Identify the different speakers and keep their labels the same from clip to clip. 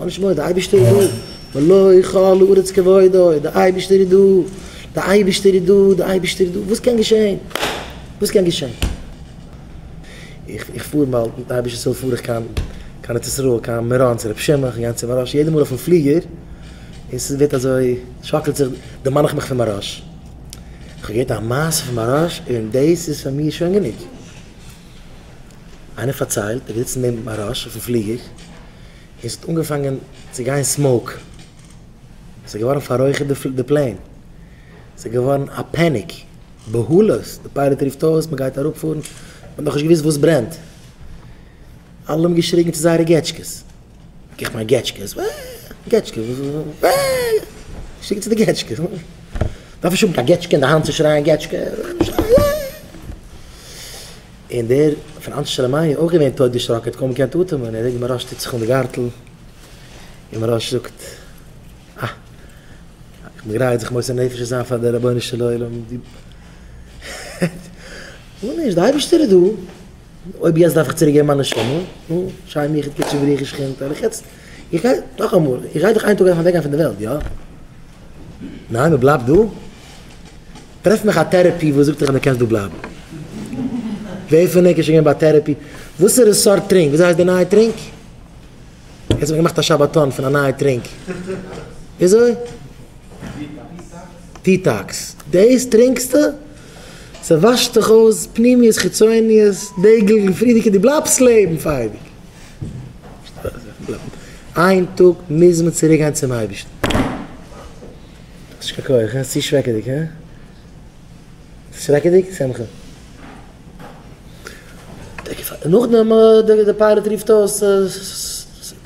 Speaker 1: פאר נישט מורא, די אייבערשטער איז דא, ולא כל הארץ כבודו, די אייבערשטער איז דא, די אייבערשטער איז דא, די אייבערשטער איז דא, וואס קען געשען? וואס קען געשען? איך פאר מאל מיטן אייבערשטנ'ס הילף פאר איך קיין קיין ארץ ישראל, קיין מירון צו רבי שמעון, כ'גיי אהין צו מהרא ש יעדע מאל אויפן פליגער, און ס'ווערט אזוי, שאקלט זיך, דערמאן איך מיך פון מהרא ש, כ'האב געהערט א מעשה פון מהרא ש און דאס איז פאר מיר שוין גענוג. איינער פארציילט ער איז געזיצן נעבן אראש אויפן פליגער און ס'האט אנגעפאנגען צו גיין סמאוק, ס'איז געווארן פאררויכערט די פלעין, ס'איז געווארן א פעניק, בהלות, די פיילעט רופט אויס מ'גייט אראפפארן, מ'האט נאכנישט געוואוסט וואס ברענט, אלע האבן געשריגן צו זייערע געטשקעס, איך מיין געטשקעס, ווע, געטשקעס, ווע, געשריגן צו די געטשקעס, מ'דארף נישט האבן קיין געטשקע אין די האנט צו שרייען געטשקע, שרייען. און דער פון אנשי שלומינו איז אויך געווען טויט דערשראקן, ער האט קוים געקענט אטעמען, ער זעט מוהראש טוט זיך אן די גארטל, און מוהראש זאגט, אה, איך בין גרייט זיך מוסר נפש צו זיין פאר דער רבונו של עולם, נו נישט, דער אייבערשטער איז דא, אויב יעצט דארף איך צוריק געבן מיין נשמה, נו, שי מיכאל קוטשער ברכי שכינתא, וועל איך יעצט, איך גיי, נאכאמאל, איך גיי דאך איין טאג אוועק גיין פון דער וועלט, יא? ניין, מען בלייבט דא? טרעף מיך א טערעפי וואס זאגט דיך אז דו קענסט דא בלייבן. ווער פון ענק איז שוין געווען ביי א טערעפי? וואסערע סארט טרינק? וויאזוי הייסט די נייע טרינק? יעצט האב איך געמאכט א שבתון פון א נייע טרינק. וויאזוי? דיטאקס. דעיס טרינקסטו? ס'וואשט דיך אויס פנימיות חיצוניות, דעיגל און פרידיגע דו בלייבסט לעבן פאר אייביג. איין טאג מוז מען צוריקגיין צום אייבישטן. שכחו, כ'האב עס צו שרעקעדיג, הא? שרעקעדיג? שמחה. נאכדעם דער פיילאט רופט אויס,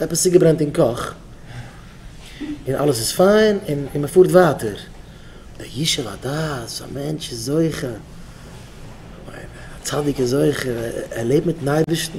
Speaker 1: עפעס צוגעברענט אין קאך, און אלעס איז פיין, און מען פארט ווייטער. דער ישוב הדעת, א מענטש איז זוכה, א צדיק איז זוכה, ער לעבט מיטן אייבערשטן.